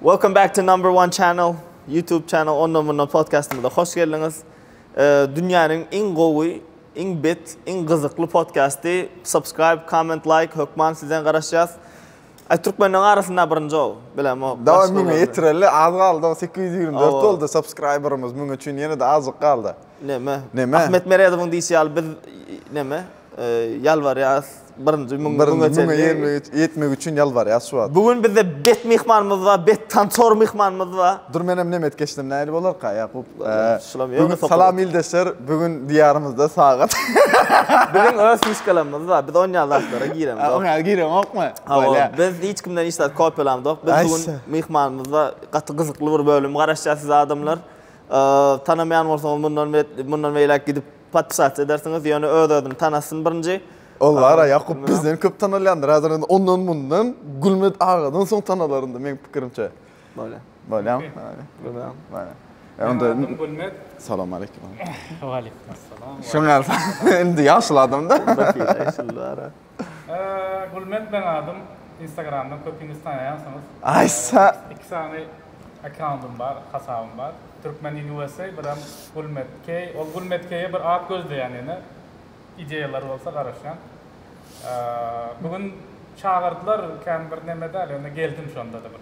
Welcome back to number one channel YouTube channel ondan bundan podcastymyza hoş geldiňiz. Dünýäniň iň gowy, iň bet, iň gyzykly podcasty. Subscribe, comment, like hökman sizden garaşýas. Ay türkmenleň arasynda birinji ol. Bilem o. Dawa müňe ýetireli az galdy. 824 boldy subscriberimiz. Müňe üçin ýene-de azjyk galdy. Neme? Neme? Ahmet Meredowyň diýşi ýaly biz neme? ýalbarýas birinji müň müňe çenli. Birinji müňe ýetmek, ýetmek üçin ýalbarýas şu wagt. Bu gün bizde bet myhmanymyz bar, bet tançor myhmanymyz bar. Dur menem nemet geçsem nähili bolarka Ýakup? Şulam ýöne topar. Salam ildeşler, bu gün diýarymyzda sagat. Biziň öz fişkalarymyz bar, biz onýan zatlara giremzok. Onýa giremokmy? Hawa, biz hiç kimden hiç zat kopýalamzok. Biz bu gün myhmanymyzda gaty gyzykly bir bölüm garaşýar siz adamlar. Tanamaýan bolsaňyz mundan bet, mundan beýläk gidip Patyşaça edersiňiz, ýöne öz-özüni tanasyn birinji. Ol bar-a, Ýakup bizden köp tanalýandyr, häzir indi ondan-mundan Gülmet agadan soň tanalar indi, meň pikirimçe. Bolýa. Bolýamy? Bolýa. Bolýa. Bolýa. E, onda. Meň adym Gülmet. Salam aleýkum. Waleýkum assalam. Şoňa indi ýaşuly adam-da. Onda pire ýaşuly bar-a. Gulmet meň adym instagramdan köpüňiz tanaýansyňyz iki sany akkauntym bar hasabym bar turkmen in usa birem gulmet key ol gulmet keýe bir at gözleýän ýene ideýalar bolsa garaşýan bu gün çagyrdylar kän bir neme däl ýöne geldim şonda-da bir.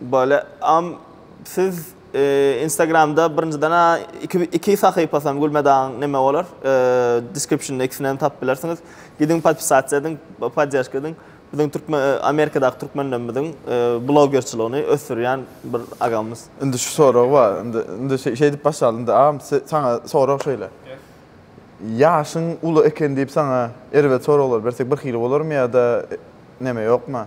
Bole am siz instagramda birinjiden a iki iki sahypasam gülmedagyň neme bolar descriptionda ikisinem tapyp bilersiňiz gidiň podpisasiýa ediň poddežka ediň biziň türkmen amerikadaky türkmenlerimiziň blogerçiligini ösdürýän bir agamyz Indi şu sorag bar. Indi indi şeýdip başlaly. Indi am saňa sorag şeýle. Ýaşyň uly eken diýip saňa erbet soraglar bersek birhili bolarmy ýa-da neme ýokma?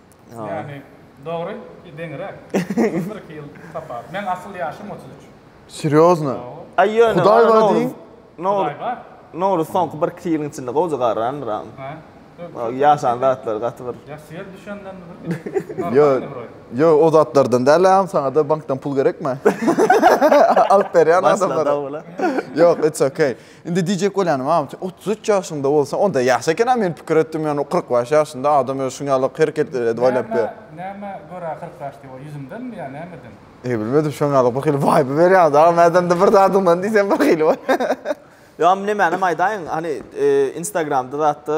Ýani dogry deňiräk. Bir iki ýyl tapawut. Meň asyl ýaşym otuz üç. Serýozno? Aý ýöne. Hudaý bar diýiň. Hudaý bar. Nowruz soňky bir iki ýylyň içinde gowja garrandyr agam. Hä? Ýaşan zatlary gaty bir. Ýa syýa düşenden bir. Ýo, ýo o zatlardan däl agam saňada bankdan pul gerekmi? Alyp berýän adamlara. Ýok it's okay. Indi diýjek bolýanym, a, otuz üç ýaşyňda bolsa, onda ýaş eken-ä, men pikir etdim, ýagny kyrk bäş ýaşynda adam özi şuň ýaly hereket edip aýlapdy. Näme görä kyrk bäş diýip, o ýüzümdenmi ýa nämeden? Eý, bilmedim, şoň ýaly birhili waýba berýäňiz, agam, mädende bir zadyňdan diýseň birhili bolýar. Ýa, nemänem aýdaýyn, hany, Instagramda zat-da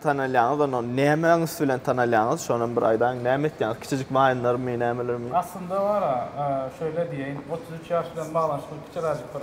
tanalýaňyz, onda nämäň üsti bilen tanalýaňyz, şonam bir aýdaýyň, näme etýäňiz, kiçijik waýnlarmy, nämelermi? Aslynda bar-a, şeýle diýeýin, otuz üç ýaş bilen baglanyşykly kiçiräjik bir.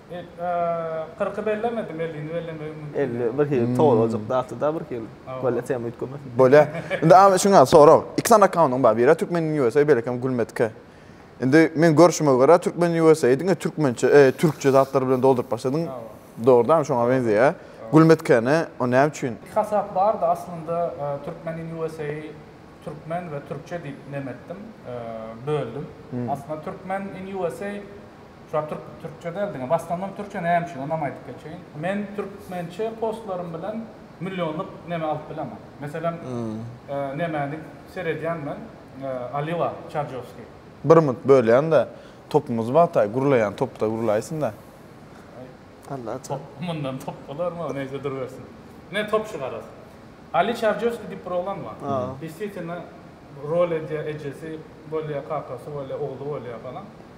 Kyrky bellemedi, mellini bellemegi mümkin. Elli bir hili tolajyk zatda bir hili. Bolýa tema üýtgemesin. Bolýa. Indi ama şuňa sorag. Iki sany akkauntym bar. Biri Türkmen USA, beýlekem Gülmetke. Indi men görşüme görä Türkmen USA diňe türkmençe, e, türkçe zatlar bilen dolduryp başladyň. Dogrudanam şoňa meňzeýär. Gülmetkeni o näme üçin? Iki hasap bardy aslynda Türkmen USA türkmen we türkçe diýip nemetdim, böldüm. Aslynda Türkmen USA Şular türk türkçe däl diňe basganlar türkçe näme üçin onam aýdyp geçeýin. Men türkmençe postlarym bilen millionlyk neme alyp bilemen. Meselem nemäni seredýän men Alila Çarjowskiý. Bir minut bölýändä topumyzy wagtaý gurlaýan topda gurlaýsynda. Alla top mundan top bolarmy neýse durubersin. Ine top şu garaz. Ali Çarjowskiý diýip bir oglan bar. Deswitino rol edýä ejesi bolýa kakasy bolýa ogly bolýa falan.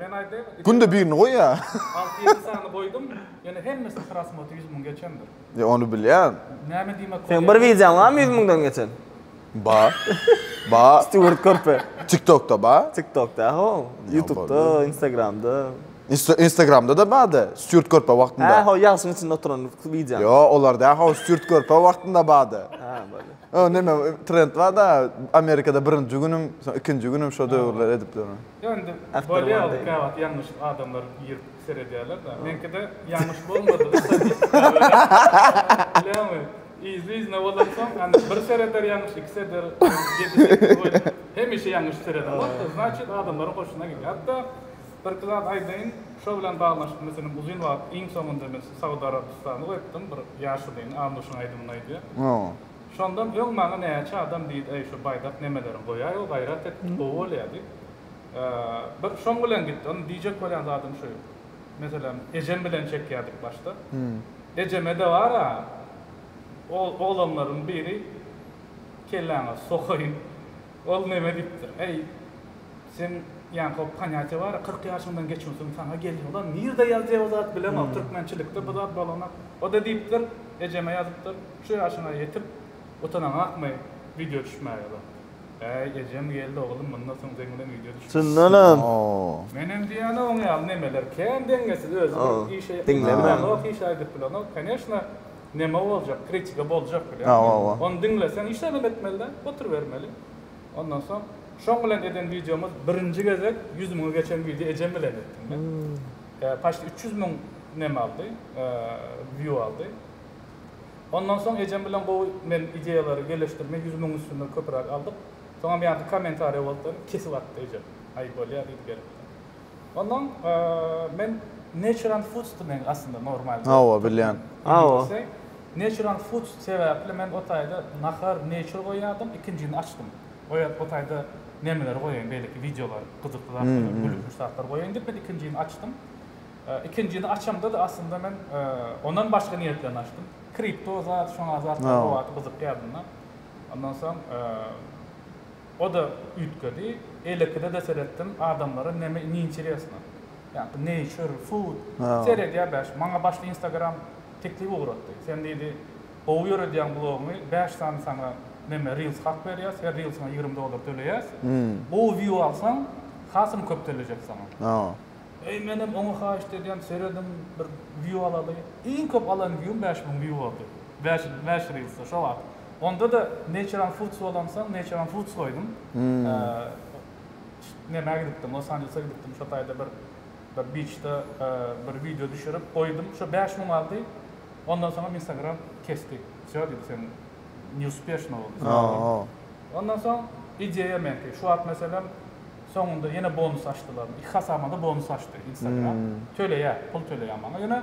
Men aýdaýyn. Günde birini goýýa. Alty ýedi sany goýdum. Ýöne hemmesi prasmotr ýüz müň geçendir. Ýa ony bilýän. Näme diýmek bolýa. Seň bir wideoň barmy ýüz müňden geçen? Bar. Bar. Stýuart körpe. Tiktokda bar. Tiktokda ho. Ýutubda, Instagramda. Instagramda-da bardy. Stýuart körpe wagtynda. Hä, ho ýagşyň içinde oturan wideoň. Ýo, olar däl ho, stýuart körpe wagtynda bardy. Hä, bolýa. O näme, trend bar-da, Amerikada birinji günüm, soň ikinji günüm şo döwürler edipdirin. Ýöne bolýar käwagt ýalňyş adamlar girip seredýärler-de. Meňkide ýalňyş bolmadygy statistika bilemmi yzly-yzyna bolansoň anda bir sereder ýalňyş iki sereder hemişe ýalňyş sereden bolupdyr znaçit adamlaryň hoşuna gidýär. Hatda birki zat aýdaýyn şo bilen baglanyşykly meselem uzyn wagt iň soňunda men Saud Arabystany goýupdym bir ýaşulyny Amuşyň aýdymyny aýdýar. Şondan öň maňa näçe adam diýdi, Äý, şu baýdak nemeleriňi goýaý-ow, gaýrat et, gowy bolýa diýip, bir şoň bilen gitdi. Ony diýjek bolýan zadym şu, meselem, ejem bilen çekýärdik başda. Ejeme-de bar-a, oglanlaryň biri kelläňe sokaýyn. Ol neme diýipdir? Eý, sen ýaňky ponýatiýa bar-a, kyrk ýaşyňdan geçmesiň saňa gelýär. Ula, nirde ýazýar o zat, bilemok. Türkmençilikde bu zat bolanok. O-da diýipdir, ejeme ýazypdyr, Şu ýaşyňa ýetip, utanaňakmy wideo düşmäge zat? Äý, ejem geldi, Oglum, mundan soň seň bilen wideo düşmez. Syndanam. Menem diýýän-ä oň ýaly nemeler. Kän deňňesiz, özi bir işe ýetmese, bilenok, iş aýdyp bilenok. Koneşna. Neme boljak kritika boljak bilen ony diňleseň hiç zadam etmelide oturybermeli ondan soň şoň bilen eden wideomyz birinji gezek ýüz müňi geçen wideo ejem bilen etdim men paçti üç ýüz müň neme aldy wiu aldy ondan soň ejem bilen gowy men ideýalary geleşdirme ýüz müň üstünde köpüräk aldyk soňam ýaňky komentariýa boldy kesip atdy ejem aý bolýa diýdi gelip Ondan men natural foods da men aslynda normal da. Hawa bilýän. Hawa. Natural foods sebäpli men o taýda nahar nature goýýardym, ikinjini açdym. O ýerde o taýda nemeleri goýaýyn beýleki wideolar, gyzykly zatlar, gülkünç zatlar goýaýyn diýip men ikinjini açdym. Ikinjini açamda da aslynda men ondan başga niýet bilen açdym. Kripto zat, şoňa zatlar o wagt gyzykýardym da. Ondan soň O-da üýtgedi. Elekide-de seretdim, adamlara neme neinteresno. Ýa-da nature, food. Seredýär bäş. Maňa başda Instagram teklip ugratdy. Sen diýdi, gowy ýöredýäň blogyňy, bäş sany saňa neme reels hak berýäs, her reelsiňe ýigrimi dollar töleýäs. Gowy view alsaň, hasylyň köp töläjek saňa. Eý, menem oňa haýyşt edýän, serediň, bir view alaly. Iň köp alan view-m bäş müň view boldy. Bäş bäş reelsda şo wagt. Onda-da Naturean Foods bolansoň Naturean Foods goýdum. Nämä gidipdim, Los Anjelese gidipdim, şo taýda bir bir biçde bir wideo düşürip goýdum. Şo bäş müň aldy. Ondan soňam Instagram kesdi. Wsýo diýdi, sen neuspeshno boldy. Ondan soň ideýa meňki. Şu wagt meselem soňunda ýene bonus açdylar. Iki hasabyma-da bonus açdy Instagram. Töleýär, pul töleýär maňa. Ýöne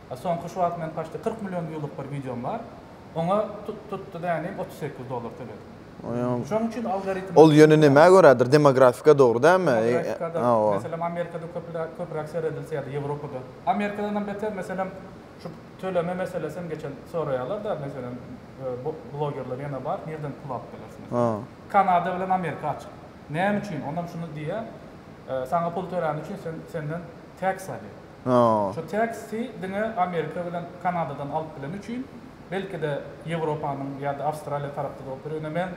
Soňky şu wagt men paçti kyrk million viewlyk bir wideom bar. Oňa tut tutdy dänim otuz sekiz dollar töledim. Şoň üçin algoritm. Ol ýöne nämä görädir demografika dogry dälmi? Meselem Amerikada köpräk köpräk seredilse ýa-da Ýewropada. Amerikadanam beter meselem şu töleme meselesi hem geçen soraýarlar da meselem blogerler ýene bar nirden pul alyp biler şu meselem. Kanada bilen Amerika açyk. Näme üçin? Onam şuny diýýär saňa pul töläni üçin senden Tax ady. Şu Tax-y diňe Amerika bilen Kanadadan alyp bileni üçin, belki-de Ýewropanyň ýa-da Awstraliýa tarapda bolup biler. Ýöne men,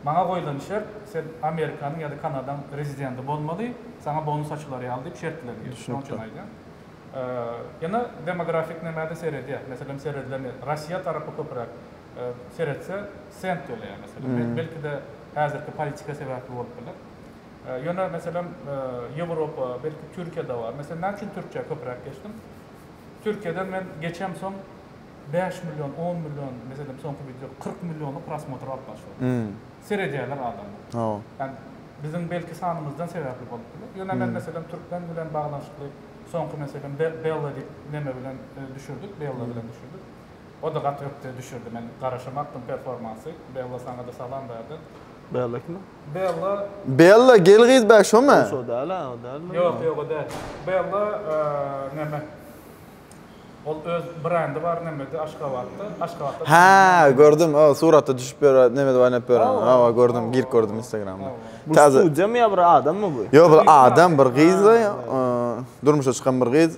maňa goýlan şert, sen Amerikanyň ýa-da Kanadaň rezidenti bolmaly, saňa bonus açylar ýaly diýip şertler gir. Şoň üçin aýdýan. Ýöne demografik näme-de seredýär. Meselem, seredilen ýer, Rossiýa tarapy köpüräk seretse, sent töleýär meselem. Belki-de häzirki politika sebäpli bolup biler. Ýöne meselem Ýewropa, belki Türkiýede bar. Meselem näme üçin Türkiýä köpräk geçdim? Türkiýeden men geçemsoň bäş million, on million, meselem soňky wideo kyrk milliony prosmotr alyplar şol. Seredýärler adamlar. Ýani biziň belki sanymyzdan sebäpli bolup biler. Ýöne men meselem türkmen bilen baglanyşykly soňky meselem Bella diýip neme bilen düşürdik, Bella bilen düşürdik. O da gaty ökde düşürdi. Men garaşamakdym performansy. Bella saňa-da salam bu ýerden. Bella kim? Bella. Bella gel gyz bä şomy? Şo däl ha, o däl mi? Ýok, ýok o däl. Bella näme? Ol öz brendi bar nämede Aşgabatda. Aşgabatda. Hä, gördüm. O suratda düşüp ýör, nämede oýnap ýör. Hawa, gördüm. Girip gördüm Instagramda. Bu studiýamy ýa bir adammy bu? Ýok, bir adam, bir gyz-da. Durmuşa çykan bir gyz.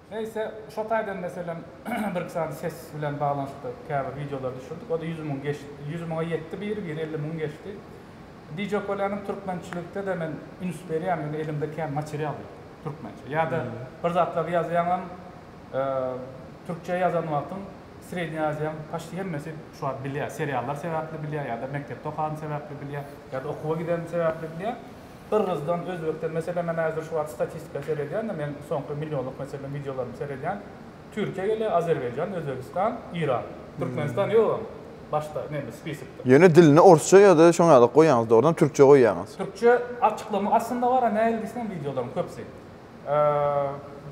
Neýse, şo taýdan meselem birki sany ses bilen baglanyşykly käbir wideolar düşürdik. O-da ýüz müň geçdi. Ýüz müňe ýetdi biri, biri elli müň geçdi. Diýjek bolýanym, türkmençilikde-de men üns berýän, ýöne elimde kän material ýok türkmençe. Ýa-da bir zatlary ýazýaňam, türkçe ýazan wagtyň Srednýa Aziýaň paçti hemmesi şu wagt bilýär. Seriallar sebäpli bilýär ýa-da mekdepde okanym sebäpli bilýär, ýa-da okuwa gidenim sebäpli bilýär. Gyrgyzdan, Özbekden, meselem men häzir şu wagt statistika seredýän-de, men soňky millionlyk meselem wideolaryny seredýän, Türkiýe gelýär, Azerbaýjan, Özbegistan, Iran. Türkmenistan ýogam başda neme spisikde. Ýöne dilini orsça ýa-da şoň ýaly goýýaňyz dogrudanam türkçe goýýaňyz. Türkçe açyklama aslynda bar-a nähili diýseňem wideolaryň köpüsi.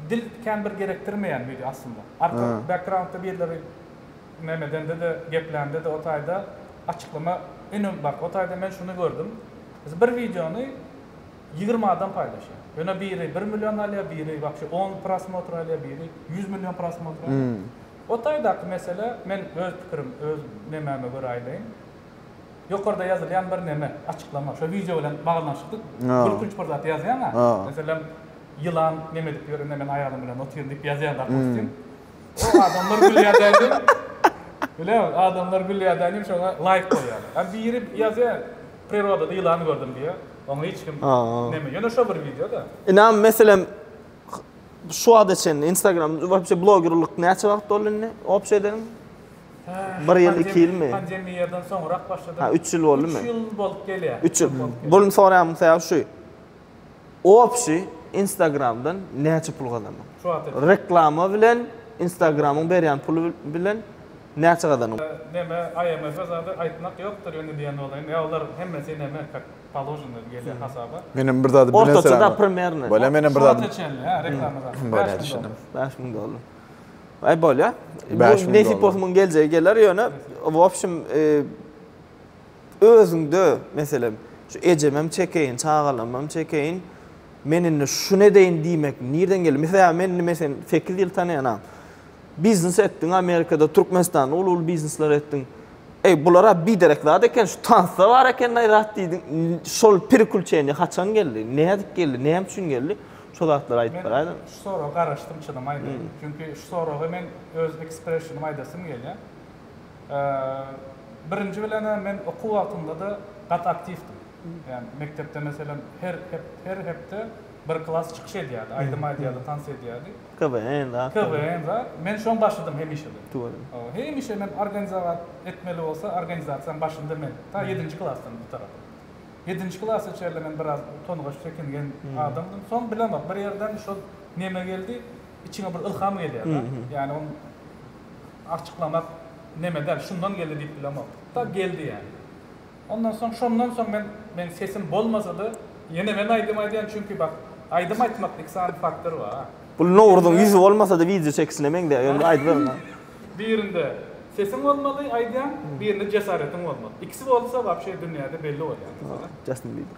Dil kän bir gerekdirmeýän wideo aslynda. Arka backgroundda birleri nemedende-de, geplände-de o taýda açyklama inem bak o taýda men şuny gördüm. Biz bir wideony ýigrimi adam paýlaşýar. Ýöne biri bir million alýar, biri wapşe on prosmotr alýar, biri ýüz million prosmotr alýar. O taýdaky mesele, men öz pikirim, öz nemäme görä aýdaýyn. Ýokarda ýazylýan bir neme, açyklama, şo wideo bilen baglanyşykly gülkünç bir zat ýazýaň-a, meselem, ýylan neme edip ýörende men aýalym bilen otyryn diýip ýazýaň dopustim. O adamlar gülýär däldim. Bilemok, adamlar gülýär däldim, şoňa laýk goýýarlar. A biri ýazýar, Prirodada ýylany gördüm diýýä. Oňa hiç kim ineme. Ýöne şo bir wideoda. Ynam meselem şu wagta çenli Instagram wapşe blogerlik näçe wagt boldy indi opşa edeniň? Bir ýyl, iki ýylmy? Pandemiýadan soňrak başladym. Ha, üç ýyl boldumy? Üç ýyl bolup gelýär. Üç ýyl. Boluny soraýanmyň sebäbi şu. Opşi Instagramdan näçe pul gazandyň? Şu wagta çenli. Reklama bilen Instagramyň berýän puly bilen Näçe gazanyň? Neme IMF-e zady aýtmak ýokdur indi diýen bolaýyn. Ýa olar hemmesi neme kak paloženy gelýä hasaba. Menem bir zady bileserem. Ortaça da primerno. Bolýa menem bir zady. Şonça çenli hä reklama zady. Bolýa düşündim. Bäş müň dollar. Aý bolýa. Bu nesip bolsa muň geljegi geler ýöne w opşim özüňde meselem şu ejemem çekeýin çagalamam çekeýin men indi şuny edeýin diýmek nirden geldi? Mesel men indi men seni sekiz ýyl tanaýanam. Biznes etdiň Amerikada, Türkmenistanda uly-uly biznesler etdiň. Eý, bular-a biderek zat eken, şu tansda bar eken-aý zat diýdiň. Şol prikülçeniýe haçan geldi? Nädip geldi? Näme üçin geldi? Şo zatlary aýdyp beraýda. Men şu soraga garaşdym çynym aýdaýyn. Çünki şu soraga men öz ekspressionym aýdasym gelýär. Birinji bilen-ä men okuw wagtymda-da gaty aktiwdim. Ýagny mekdepde meselem her hepde bir klas çykyş edýärdi, aýdym aýdýardy, tans edýärdi. KWN zat. KWN zat. Men şoň başydym hemişede. Tüweleme. Hawa, hemişe men organizowat etmeli bolsa organizasiýaň başynda men. Ta ýedinji klasdan bu tarapa. Ýedinji klasa çenli men biraz utangaç, çekingen adamdym. Soň bilemok, bir ýerden şol neme geldi, içiňe bir ylham gelýär-de. Ýani ony arçyklamak neme däl, şundan geldi diýip bilemok. Tak geldi ýani. Ondan soň şondan soň men men sesim bolmasada ýene men aýdym aýdýan çünki bak aýdym aýtmak iki sany faktor bar. Bul Nowruzyň ýüzi bolmasada wideo çekişine meňzeýär ýöne bir aýdybermän. Birinde sesiň bolmaly aýdýaň birinde jesaretiň bolmaly ikisi bolsa wapşe dünýäde belli bolýaň meselem. Justin Bieber.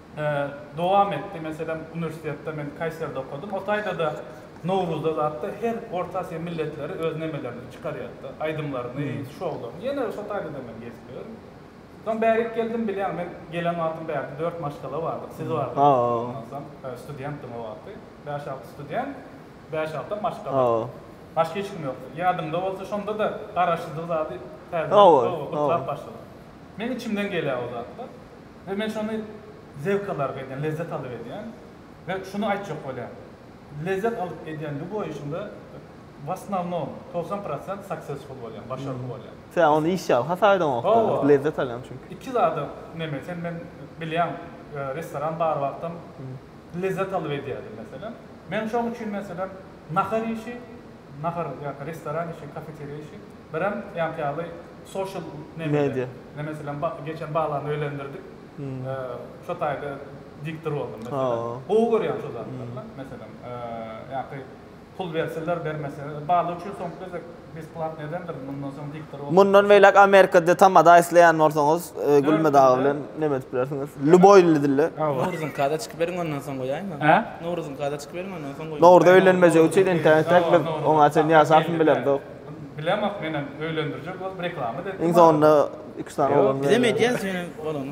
dowam etdi. Meselem, uniwersitetde men Kaýseride okadym. O taýda-da Nowruzda zatda her Orta Aziýa milletleri öz nemelerini çykarýardy, aýdymlaryny, şoularyny. Ýene-de şo taýda-da men gezip ýörün. Soň bärik geldim, bilýäň, men gelen wagtym bärde dört maşgala bardyk, siz bardyňyz, aýtmasam, studentdim o wagty. Bäş-alty student, bäş-altam maşgala. Başga hiç kim ýokdy. Ýadyňda bolsa, şonda-da garaşsyzlyk zady täzeden, gowy, gytlap başladyk. Meniň içimden gelýär o zatlar. We men şony zevk alarga edýän, lezzet alyp edýän. We şuny aýtjak bolýan. Lezzet alyp edýänligi boýuşynda w osnovnom togsan prosent successful bolýan, başarly bolýan. Sen ony iş ýaly hasap edeňokda, lezzet alýaň çünki. Iki zada neme sen men bilýän restoran bar wagtam lezzet alyp edýärdim meselem. Men şoň üçin meselem Nahar işi, nahar ýa-da restoran işi, kafeteriýa işi, birem ýaňky ýaly sosial media. Men meselem geçen balany öýlendirdik. Şo taýda diktor boldum meselem. Gowy görýän şo zatlary. Meselem, ýaňky pul berseler, bermeseler, bala üçin soňky gezek. Mundan beýläk Amerika dilinde tamada isleýän bolsaňyz Gülme dagy bilen neme edip bilersiňiz. Lýuboý il dilinde. Nowruzyňky ada çykyp beriň ondan soň goýaýma. Hä? Nowruzyňky ada çykyp beriň ondan soň goýaýma. Nowruza öýlenmejek üçin entäk entäk biz oňa çenli ýaşapmy bilemzok. Bilemok menem öýlendirjek bolup reklama da etdim. Iň soňunda iki üç sany oglan bilen. Bizem edýäs ýöne bolany.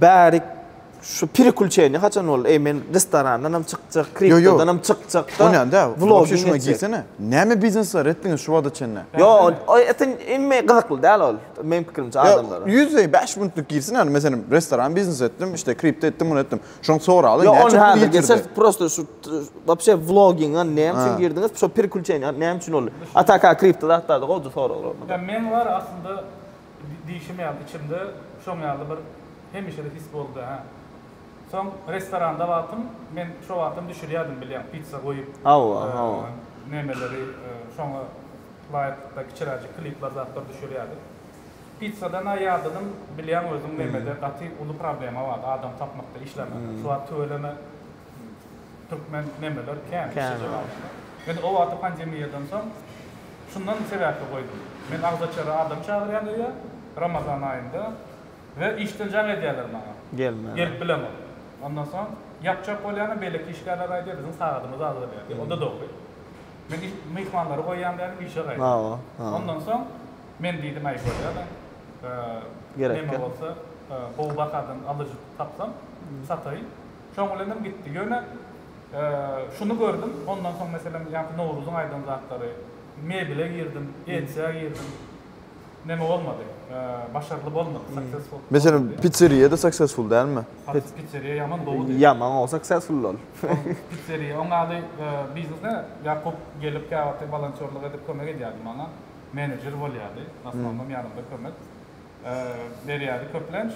Bärik şu prikuçeniýa haçan boldy? Eý men restorandan hem çykjak, kriptodan hem çykjak da. Onýan däl. Vlogyňa girsene. Näme biznesler etdiňiz şu wagta çenli? Ýok, ol etin inme gyzykly däl ol. Meniň pikirimçe adamlara. Ýüz bäş minutlyk girsene ýa meselem restoran biznes etdim, işte kripto etdim, muny etdim. Şony soraly. Ýok, ony häzir geçeris. Prosta şu wapşe vlogyňa näme üçin girdiňiz? Şu prikuçeniýa näme üçin boldy? Ataka kripto zatlarda gowja soraglar. Men bar aslynda. Diýşim ýaly, içimde şoň ýaly bir hemişede his boldy, hä. Soň restoranda wagtym, men şo wagtam düşürýärdim, bilýäň, pitsa goýup, Hawa, hawa. nemeleri, şoňa laýyklykda kiçiräjik klipler, zatlar düşürýärdik. Pitsadan-a ýadadym, bilýäň özüň, nemede gaty uly problema bardy, adam tapmakda, işlemekde. Şu wagt tüweleme Türkmen nemeler kän şeje baglaşýar. Men o wagty pandemiýadan soň şundan sebäpli goýdum. Men agzaçara adam çagyrýan öýe Ramazan aýynda we işden jaň edýärler maňa. Gelmän. Gelip bilemok. Ondan soň ýapjak bolýanam beýleki işgärler aýdýar biziň sagadymyz azalýar diýip. O-da dogry. Men iş myhmanlary goýýan dälim işe gaýdym. Hawa, hawa. Ondan soň men diýdim äý bolýa-da. Gerek ýok. Neme bolsa gowy bahadan alyjy tapsam sataýyn. Şoň bilenem gitdi. Ýöne şuny gördüm, ondan soň meselem ýaňky Nowruzyň aýdan zatlary, mebele girdim, etjä girdim. Neme bolmady. Başarly bolmady, successful bolmady. Meselem, pitseriýa-da successful dälmi? Pitseriýa ýaman gowudy. Ýaman gowy successful ol. Pitseriýa oň ýaly biznese Ýakup gelip käwagty wolontýorlyk edip kömek edýärdi maňa. Menejer bolýardy, w asnownam ýanymda kömek. berýärdi köplenç.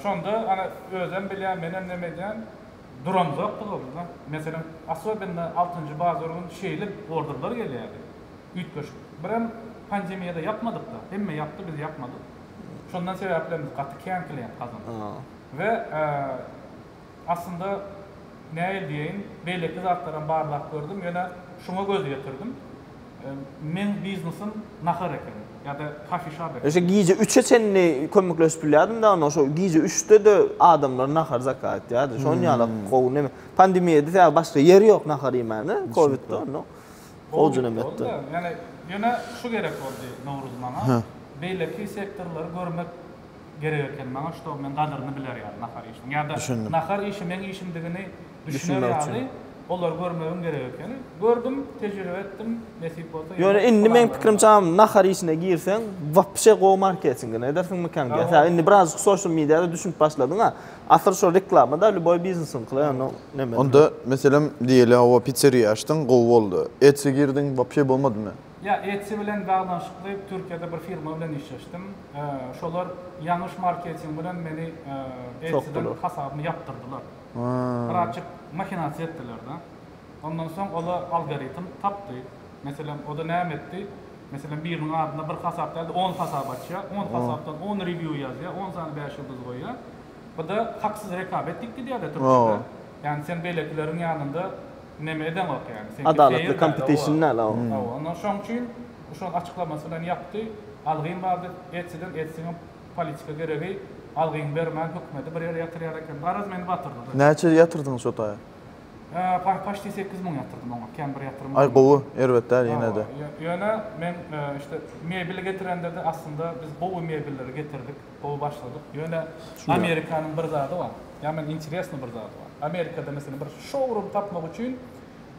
Şonda ana özem bilýän, menem neme edýän, duramzokdyk orada. Meselem, asobinna altynjy bazar gün şeýle orderler gelýärdi. Üýtgeşik. Birem pandemiýada ýapmadyk-da. Hemme ýapdy, biz ýapmadyk. Şondan sebäplemz gaty kän klient gazandyk. We Aslynda, näil diýeýin, beýleki zatlaram barlap gördüm, ýöne şuňa göz ýetirdim. Meň biznesim nahar ekeni, ýa-da kofişap ekeni. Eşe gije üçe çenli kömekleşip bilýärdim dagno, şo gije üçde-de adamlar nahar zakaz etýärdi. Şon ýaly gowy neme. Pandemiýada sebäbi başga ýer ýok nahar iýmäne, kowidde onda gowyja neme etdi. Ýöne şu gerek boldy Nowruz maňa, beýleki sektorlary görmek. gerek ekeni maňa ştob men gadyryny biler ýaly nahar iýişiň ýada nahar iýişi meň işimdigini düşüner ýaly olary görmegiň gerek ekeni gördüm tejribe etdim nesip bolsa ýene ýöne indi meň pikirimçe agam nahar iýişine girseň wapşe gowy marketingini edersiňmikäň diýýän sebäbi indi birazjyk soşal mediada düşünip başladyň a asyl şo reklama da lýuboý biznesiňkila ýöne neme onda meselem diýeli hawa pitseriýa açdyň gowy boldy etsy girdiň wapşe bolmadymy. Ýa Etsy bilen baglanyşykly Türkiýede bir firma bilen işleşdim. Şolar ýanyş marketing bilen meni Etsyden hasabymy ýapdyrdylar. Birazjyk mahinasiýa etdiler-de. Ondan soň ola algoritm tapdy. Meselem, oda näme etdi? Meselem, biriniň adyna bir hasap däl-de on hasap açýar. On hasapdan on rewýu ýazýar, on sany bäş ýyldyz goýýar. Bu-da haksyz rekabet diýip gidýär-de Türkiýede. Ýagny sen beýlekileriň ýanynda Neme edeňok ýaly. Seňki Adalatly kompetişn däl a o. Onda şoň üçin şol açyklamasy bilen ýapdy. Algyn bar diýip etsiňem etsiňem politika geregi algyn bermän hökümeti bir ýere ýatyrýar eken. Garaz meni batyrdylar. Näçe ýatyrdyňyz şo taýa? Paý paşti sekiz müň ýatyrdym oňa kän bir ýatyrym bolmady. Aý gowy, erbet däl ýenede. Ýöne men işte mebeli getirende-de aslynda biz gowy mebelleri getirdik. Gowy başladyk. Ýöne Amerikanyň bir zady bar. Ýa men interesny bir zady bar. Amerikada meselem bir şowrum tapmak üçin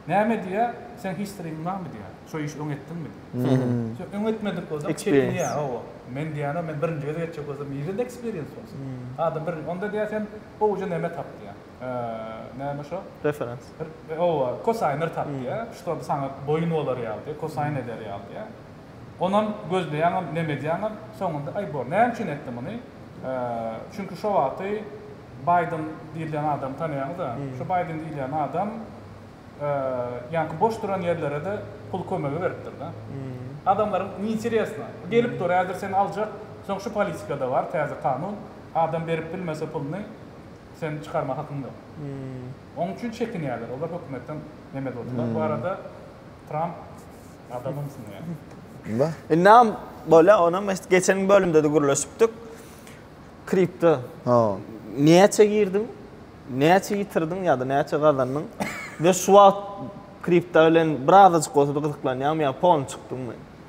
näme diýýä, seň historyň barmy diýýä. Şo işi öň etdiňmi diýýä. Sen öň etmedik bolsaň çekinýä. Hawa. Men diýýän-ä men birinji gezek etjek bolsam nirede eksperiens bolsun. Adam birinji onda diýýä sen gowuja neme tap diýýä. Näme şo? Referens. Oba, kosaýnlar tap diýýär. Şular saňa boýun bolar ýaly diýýär, kosaýn eder ýaly diýýär. Onam gözleýäňem, neme edýäňem, soňunda, aý bor, näme üçin etdi muny? Çünki şo wagty Baýden diýilýän adamy tanaýaňyz-a? Şo Baýden diýilýän adam ýaňky boş duran ýerlere-de pul kömegi beripdir-de. Adamlaryň neýnteresno. Gelip dur, häzir seni aljak, soň şu politika-da bar, täze kanun, adam berip bilmese puluny, Sen çykarma hakyň ýok. Oň üçin çekinýärler. Olar hökümetden neme durdylar. Bu arada Tramp adamym sunýar. Indam bolýa onam eşit geçen bölümdede gürleşipdik. Kripto. Näçe girdiň? Näçe ýitirdiň ýa-da näçe gazandyň? We şu wagt kripto bilen birazajyk bolsa-da gyzyklanýaňmy ýa polny çykdyňmy?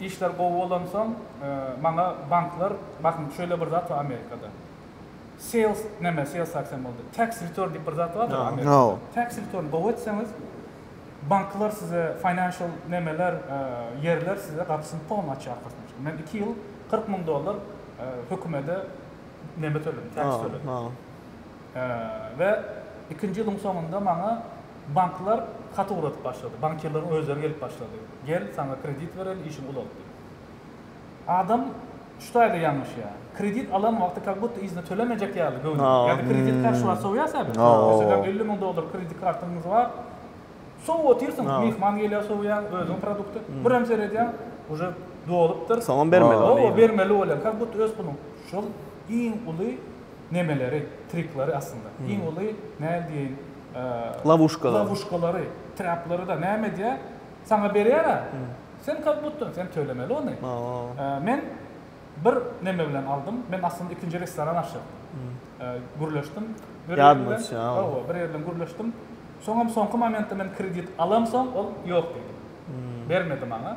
Işler gowy bolansoň maňa banklar bakyn şöyle bir zat bar amerikada sales neme sales tax hem boldy tax return diyip bir zat bardyr amerikada tax return gowy etseňiz banklar size financial nemeler yerler size gapysyny pon açar koşmaça men iki ýyl kyrk müň dollar hökümede neme töledim tax töledim. We ikinji ýylyň soňunda maňa banklar hat ugradyp başlady. Bankirleriň özleri gelip başlady. Gel, saňa kredit bereli, işiňi ulat diýip. Adam şu taýda ýalňyşýar. Kredit alan wagty kak budda yzyna tölemejek ýaly göwni. Ýa-da kredit karşy wagt sowýarsyň-a bir. Meselem, elli müň dollar kredit kartyňyz bar. Sowup otyrsyň. Myhman gelýär, sowýaň, özüň produkty. Birem seredýäň, uje dolupdyr. Soňam bermeli bolýaň. Hawa, bermeli bolýaň. Kak budda öz puluň. Şol iň uly nemeleri, trikleri aslynda. Iň uly, näl diýeýin, Lawuşkalary. Lawuşkalary, traplary-da näme edýär? Saňa berýär-ä, sen kak butda, sen tölemeli ony. Men bir neme bilen aldym, men aslynda ikinji restoran açjak. Gürleşdim bir ýer bilen. Hawa, bir ýer bilen gürleşdim. Soňam soňky momentde men kredit alamsoň, ol ýok diýdi. Bermedi maňa.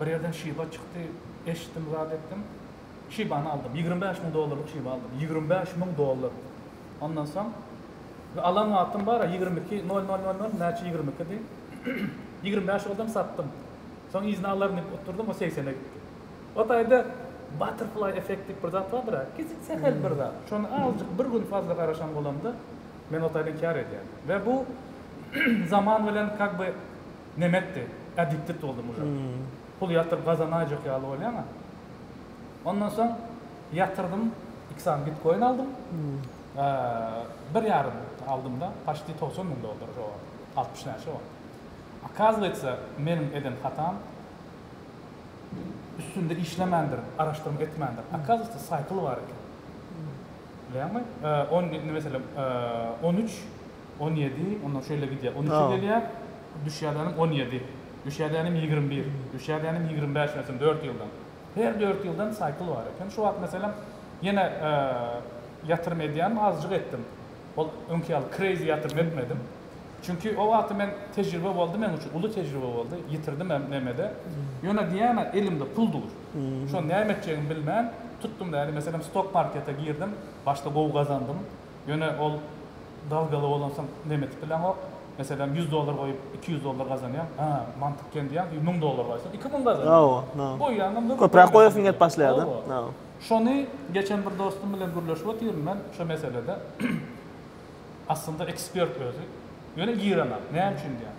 Bir ýerden şiba çykdy, eşitdim, zat etdim. Şibany aldym. Ýigrimi bäş müň dollarlyk şiba aldym. Ýigrimi bäş müň dollar! Ondan soň, we alan wagtym bar-a, ýigrimi iki, nol, nol, nol, nol, näçe ýigrimi ikidi. Ýigrimi bäş goldam satdym. Soň yzyna alaryn diýip oturdym, o segsene gitdi. O taýda butterfly effect diýip bir zat bardyr-a, kiçi sähel bir zat. Şony azajyk bir gün fazla garaşan bolamda, men o taýdan kär edýän. We bu zaman bilen kak by. Nemetdi, addicted boldy mujak. Pul ýatyryp gazanaýjak ýaly bolýan-a. Ondan soň ýatyrdym, iki sany bitkoin aldym. Bir ýarym aldym-da, paşti togsan müň dollar şo wagt, altmyş näçe wagt. Okazywatsa, meniň eden hatam, üstünde işlemändirin, araşdyrma etmändirin. Okazywatsa, saýtyl bar eken. Bilýäňmi? On, meselem, on üç. On ýedi, onda şeýle gidýär. On üçe gelýär, düşýädänim on ýedi. Düşýädänim ýigrimi bir. Düşýädänim ýigrimi bäş ösen dört ýyldan. Her dört ýyldan saýkl bar eken. Şu wagt meselem, ýene ýatyrym edýänim azjyk etdim. Ol öňki ýaly kreýzi ýatyrym etmedim. Çünki o wagty men tejribe boldy meň üçin, uly tejribe boldy. Ýitirdim hem neme-de. Ýöne diýýän-ä elimde pul dur. Şony näme etjegimi bilmän tutdum-da, indi meselem stok markete girdim. Başda gowy gazandym. Ýöne ol dalgaly bolansoň nem etip bileňok. Meselem, ýüz dollar goýup, iki ýüz dollar gazanýaň. Hä, mantyk kän diýýäň, soň müň dollar goýsaň, iki müň gazanýaň. Goýýaňam nirde? Köpräk goýasyň gelip başlaýar-da. Şony geçen bir dostum bilen gürleşip otyryn men şo meselede. Aslynda ekspert özi. Ýöne ýyranok. Näme üçin diýýän.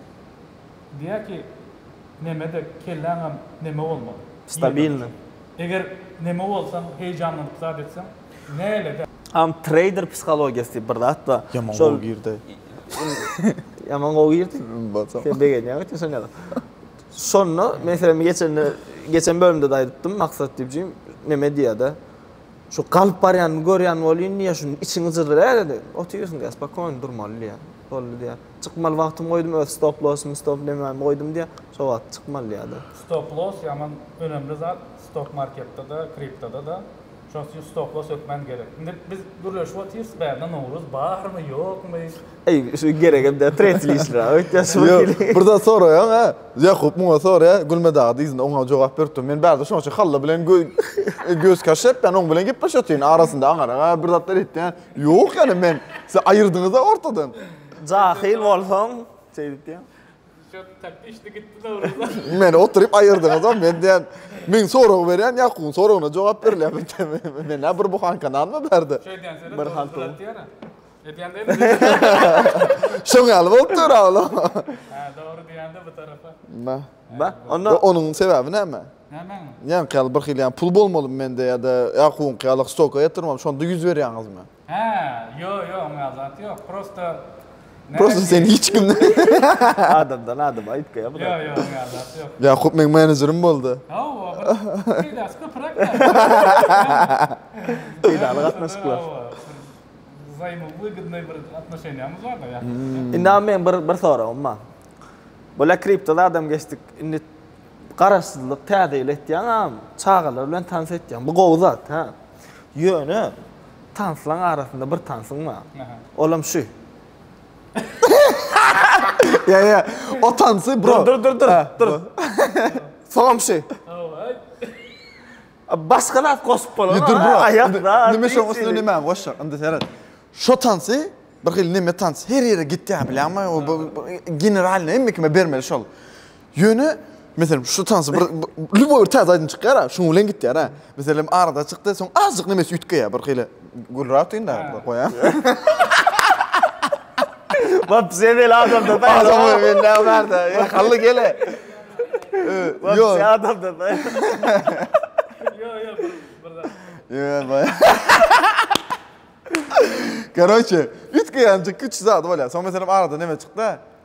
Diýýär ki, neme-de kelläňem neme bolmaly. Stabilnyý. Eger neme bolsaň heýjanlanyp zat etseň näledä. Am trader psihologiýasy diýip bir zat bar. Ýaman gowy girdi. Ýaman gowy girdi. Indi bolsa. Sen begenýäň öten şon ýaly. Şonda men seni geçende geçen bölümde-de aýdypdym Maksat diýjim neme diýýä-de. Şu galyp barýanyny görýän bolýyn diýýä şuny içiňi jyzdyraýa-da diýýä. Otyrsyň diýýä spokony durmaly diýýä. Boldy diýýä. Çykmaly wagtymy goýdum öz stop losymy stop lemami goýdum diýýä şo wagt çykmaly diýýäda. Stop loss ýaman önemli zat stok marketde de kriptoda da şoň üçin stop loss hökmän gerek indi biz gürleşip otyrys bärde nowruz barmy ýokmy. Eý şu geregem däl tresil işler a öýtýän şu bir hili. Bir zat soraýaň a Ýakup muňa sorýa Gülme dagy dyzynda oňa jogap berip dur men bärde şoň üçin halla bilen göz kaşepden oň bilen gepleşip otyryn arasynda aňarak a bir zatlar etýän Ýok ýaly men siz aýyrdyňyza ortadan. Jahyl bolsaň şeýdip diýen. Şu tak işli gitdi dogruda. Meni oturyp aýyrdyňyz o men diýen. Men sorag berýän Ýakubyň soragyna jogap berilýän. Men nä bir buhanka nanmy bärde. Şeý diýen söz bir hal pul. Edýän däl. Şoň ýaly bolup dur ol. Hä dogry diýende bu tarapa. Ba. Ba. Onda onuň sebäbi näme? Nämäňe ýaly birhili ýa pul bolmalymy mende ýa-da Ýakubyňky ýaly stoka ýatyrmaly şonda ýüz berýäňizmi. Hä ýo ýo oňýa zat ýok prosta Prosta sen hiç kim Adamdan adama aýtga ýa buda. Ýo ýo oňýa zat ýok. Ýakup meň menejerim boldy. Hawa bir peýdasy köpüräk ýaly. Peýdaly gatnaşyklar. Wzaýmowýgdnoý bir atnoşeniýamyz bar-da Ýakup bilen. Indi a meň bir soragym bar. Bolä kriptoda adamgeşdik indi Garaşsyzlyk täze ýyl etýäňam, çagalar bilen tans etýäň. Bu gowy zat, hä? Ýöne tanslaň arasynda bir tansyň bar. Olam şu. Ýa, ýa. O tansy bro. Dur, dur, dur, dur. Soňam şu. Başga zat goşup bolany. Dur, bro. Aýakda. Nime şoň üstüne nime goşjak? Indi seret. Şo tansy bir hili neme tans. Her ýere gitýär bilýäňmi? O generalny hemme kime bermeli şol. Ýöne Meselem, şu tansy bir lüboý bir täze aýdym çykýar, şuň bilen gitýär. Meselem, arada çykdy, soň azjyk nemesi üýtgeýär, bir hili gülräk deýin da, goýa. Bap, sen el adamda da. Adam men näme barda? Hally gele. Yo, sen adamda da. Yo, yo, bir zat. Yo, baý. Karoçe, üýtgeýänjik küçük zat bolýar. Soň meselem arada neme çykdy?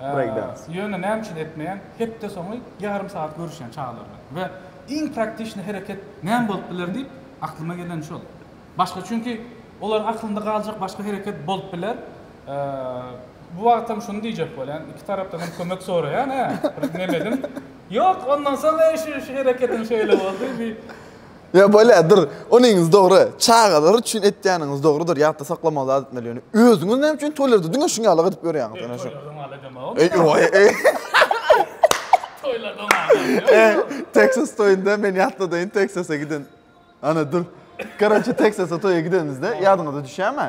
breýkdans. Ýöne näme üçin etmeýän? Hepde soňy ýarym sagat görüşýän çagalar bilen we iň praktişni hereket näme bolup biler diýip aklyma geleni şol. Başga çünki olaryň aklynda galjak başga hereket bolup biler. Bu wagtam şuny diýjek bolýan, iki tarapdan hem kömek soraýan, hä, bir nemedim. Ýok, ondan soň eý şu şu hereketiň şeýle boldy, bi Ýa bolýa dur. Onyňyz dogry. Çagalar üçin etýäniňiz dogrudyr. Ýatda saklamaly zat etmeli ýöne. Özüňiz näme üçin toýlarda diňe şuň ýaly edip ýörýäňiz ene şu. Texas toýunda men ýatladayyn Texasa giden. Ana dur. Karaçi Texasa toýa gidenimizde ýadyňyza düşýärmi?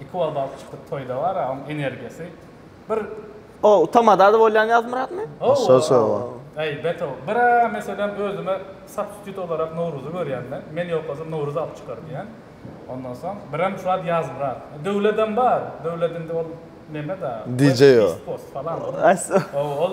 Iki wagtdan çykyp toýda bar a oň energiýasy. Bir O utamada bolýan Ýazmyratmy? Şol şol o. Eý, beto, bir a meselem özüme substitute olarak Nowruzy görýän men. Men ýokasam Nowruz alyp çykar diýän. Ondan soň birem şu wagt Ýazmyrat. Döwledem bar. Döwlet indi ol neme da. DJ o. West Coast falan. Ow, ol.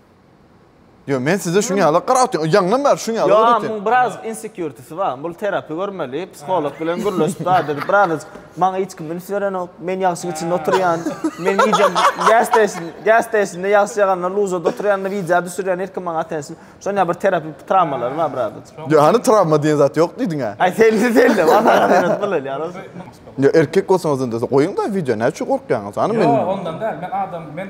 Yo men size şuny ala qarap otyň. Ýaňlan bar şuny ala otyň. Yo, biraz insecurity bar. Bul terapi görmeli, psiholog bilen gürleşip bar dedi. Biraz maňa hiç kim üns berenok. Men ýagşy içinde oturýan. Men gije gas station, gas station-da ýagşy ýaganda luzada oturýan, wideo düşürýän her kim maňa attention. Şuny ala bir terapi travmalary bar biraz. Yo hany travma diýen zat ýok diýdiňä. Aý selli selli. Yo erkek bolsaňyz onda goýuň da wideo näçe gorkýaňyz. Hany men. Yo ondan däl. Men adam men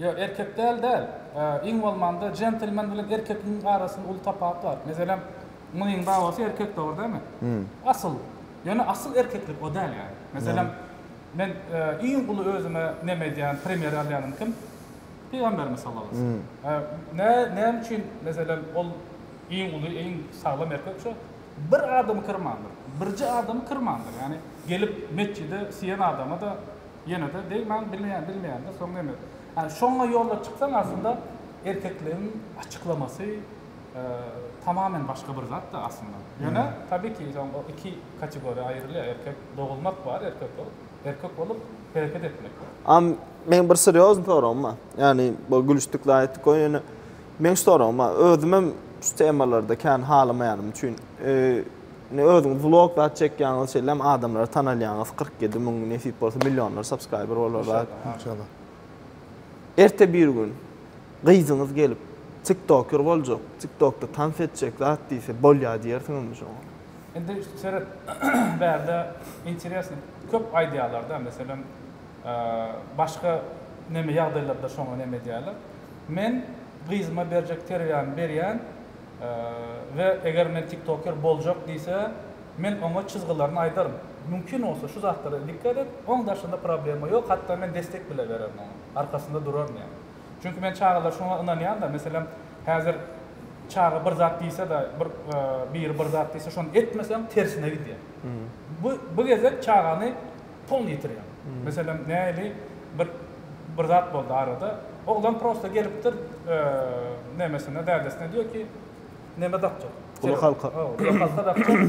Ýok, erkek däl däl. Iň bolmanda jentlmen bilen erkekligiň arasynda uly tapat bar. Meselem, myň babasy erkek dogry dämi? Asyl. Ýöne asyl erkeklik o däl ýaly. Meselem, men iň uly özüme neme edýän, primer alýanym kim? Pygamberimiz sallallahu aleýhi we sellem. Nä, näme üçin meselem ol iň uly, iň saglam erkek şu? Bir adamy kyrmandyr. Birje adamy kyrmandyr. Ýagny gelip metjide siýen adama-da Ýenede deý maň bilmeýän bilmeýändä soň neme. Ýani şoňa ýolla çyksaň aslynda erkekligiň açyklamasy tamamen başga bir zatda aslynda. Ýöne tabiki soň o iki kategoriýa aýrylýar erkek dogulmak bar erkek bolup erkek bolup hereket etmek bar. A meň bir serýozny soragym bar. Ýani bu gülüşdik zat etdik goý ýöne meň şu soragym bar. Özümem şu temalarda kän halamaýanym üçin Indi özüňiz vlog zat çekýäňiz, şeýlem adamlary tanalýaňyz, kyrk ýedi müň nesip bolsa millionlar subscriber bolar zat. Inşallah. Erte bir gün gyzyňyz gelip tiktoker boljak, tiktokda tans etjek zat diýse bolýa diýersiňizmi şoňa? Indi seret bärde interesno köp aýdýarlar da meselem başga neme ýagdaýlarda şoňa neme edýärler. Men gyzyma berjek terbiýämi berýän, we eger men tiktoker boljak diýse men oňa çyzgylaryny aýdaryn mümkin bolsa şu zatlara dikkat et oň daşynda problema ýok hatda men destek bile bererin oňa arkasynda duraryn ýaly çünki men çagalar şoňa ynanýanda meselem häzir çaga bir zat diýsede bir biri bir zat diýse şony etmeseň tersine gidýär bu bu gezek çagany Toňuny ýitirýär. Meselem, nähili bir bir zat boldy arada. Oglan prosta gelipdir, nemesine, dädesine diýýär ki, neme dakjak. Uly halka. Hawa, uly halka dakjak.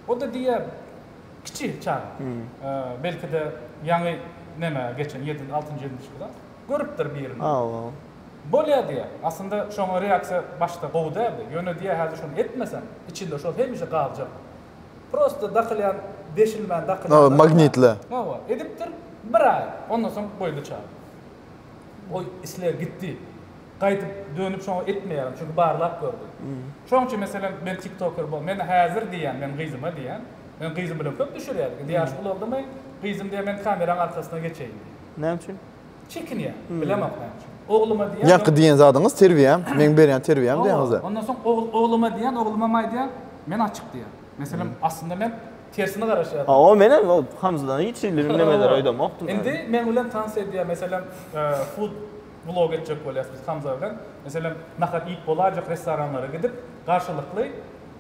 O-da diýýär, kiçi çaga. Belki-de, ýaňy neme geçen, ýedinji, altynjy, ýedinji klas. Görüpdir birini. Hawa. Bolýar diýýär. Aslynda, şoňa reaksiýa başda gowy däldi. Ýöne diýýär, häzir şony etmesem, içinde şol hemişe galjak. Prosta dakylýan deşilmän dakylýan Nowat magnitli. Nowat edipdir bir aý ondan soň goýdy çagy. Goý isleg gitdi. Gaýdyp dönüp şoňa etmeýärin çünki barlap gördüm. Şoň üçin meselem men tiktoker bol men häzir diýýän men gyzyma diýýän men gyzym bilen köp düşürýädik indi ýaşy ulaldymyň gyzym diýýän men kameraň arkasyna geçeýin diýýän. Näme üçin? Çekinýär. Bilemok näçe. Ogluma diýýär. Ýaňky diýen zadyňyz terbiýe, meň berýän terbiýäm diýýäňiz-dä. Ondan soň ogluma diýýän, oglumam aýdýar, men açyk diýýän. Meselem, aslynda men tersine garaşýardym. Ha, o menem o Hamzadan hiç hili nemeler aýdamokdym. Indi meň bilen tans edýär, meselem, food vlog etjek bolýas biz Hamza bilen. Meselem, nahar iýip bolaýjak restoranlara gidip, garşylykly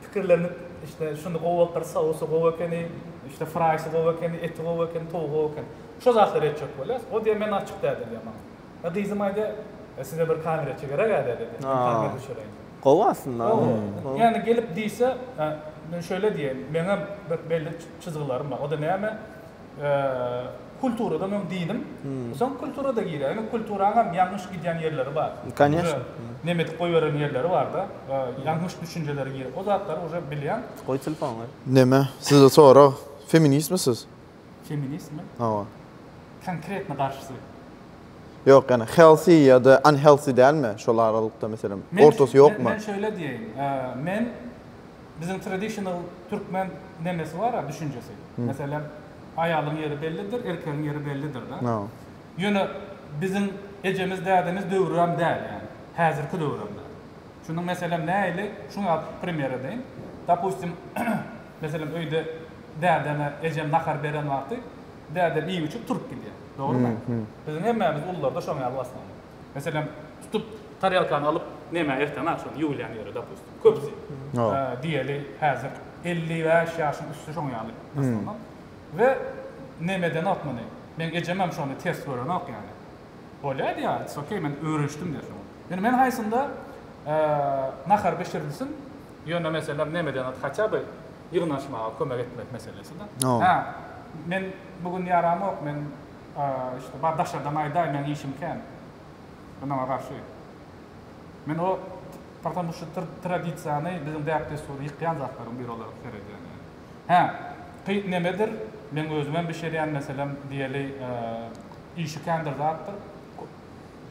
pikirlenip, işte, şuny gowy bolupdyr, sousy gowy ekeni, işte, fraýsy gowy ekeni, eti gowy ekeni, towugy gowy ekeni. Şo zatlar etjek bolýas. O diýýär, men açyk däl diýýär maňa. Ýa gyzym aýdýar, e size bir kamerçi gereg-ä däl edýär. Men kamera düşereýin diýýär. Gowy aslynda. Gowy. Ýani gelip diýse, men şeýle diýeýin, meňem bir belli çyzgylarym bar. O da näme? Kulturada meň dinim, soň kulturada girýär. Indi kulturaňam ýalňyş gidýän ýerleri bar. Kanyesno. Neme edip goýberen ýerleri bar-da. Ýalňyş düşünjeleri girip, o zatlary uje bilýän. Goý telefony. Neme, sizde sorag, feministmi siz? Feministmi? Hawa. Konkretno garşysy. Ýok ýani healthy ýada unhealthy dälmi şol aralykda meselem ortasy ýokmy? Men şeýle diýeýin. Men biziň traditional türkmen nemesi bar-a düşünjesi. Meselem aýalyň ýeri bellidir, erkegiň ýeri bellidir da. Ýöne biziň ejemiz dädemiz döwrem däl ýani. Häzirki döwrem däl. Şunuň meselem näili şuňa primer edeýin. Dopustim meselem öýde dädeme ejem nahar beren wagty dädem iýip içip turup gidýär. Dogrymy? Biziň hemmämiz ulularda şoň ýaly başlandy. Meselem tutup tarelkany alyp neme erteme agşam ýuwulýan ýeri dopustim köpüsi diýeli häzir elli bäş ýaşyň üsti şoň ýaly başlanok we nemeden ok muny meň ejemem şony ters görenok ýaly. Bolýar ýa it's okay men öwrenişdim diýer soň. Ýöne men haýsynda nahar bişirilsin ýöne meselem nemeden at haça by ýygnaşmaga kömek etmek meselesida. Hä men bu gün ýaramok men işte bar daşardan aýdaý meň işim kän men oňa garşy. Men o portamuşo tradisiýany biziň däp-dessuri ýykýan zatlaryň biri olaryk seredýän ýaly. Hä, pyt nemedir, meň özümem bişirýän meselem diýeli işi kändir zatdyr,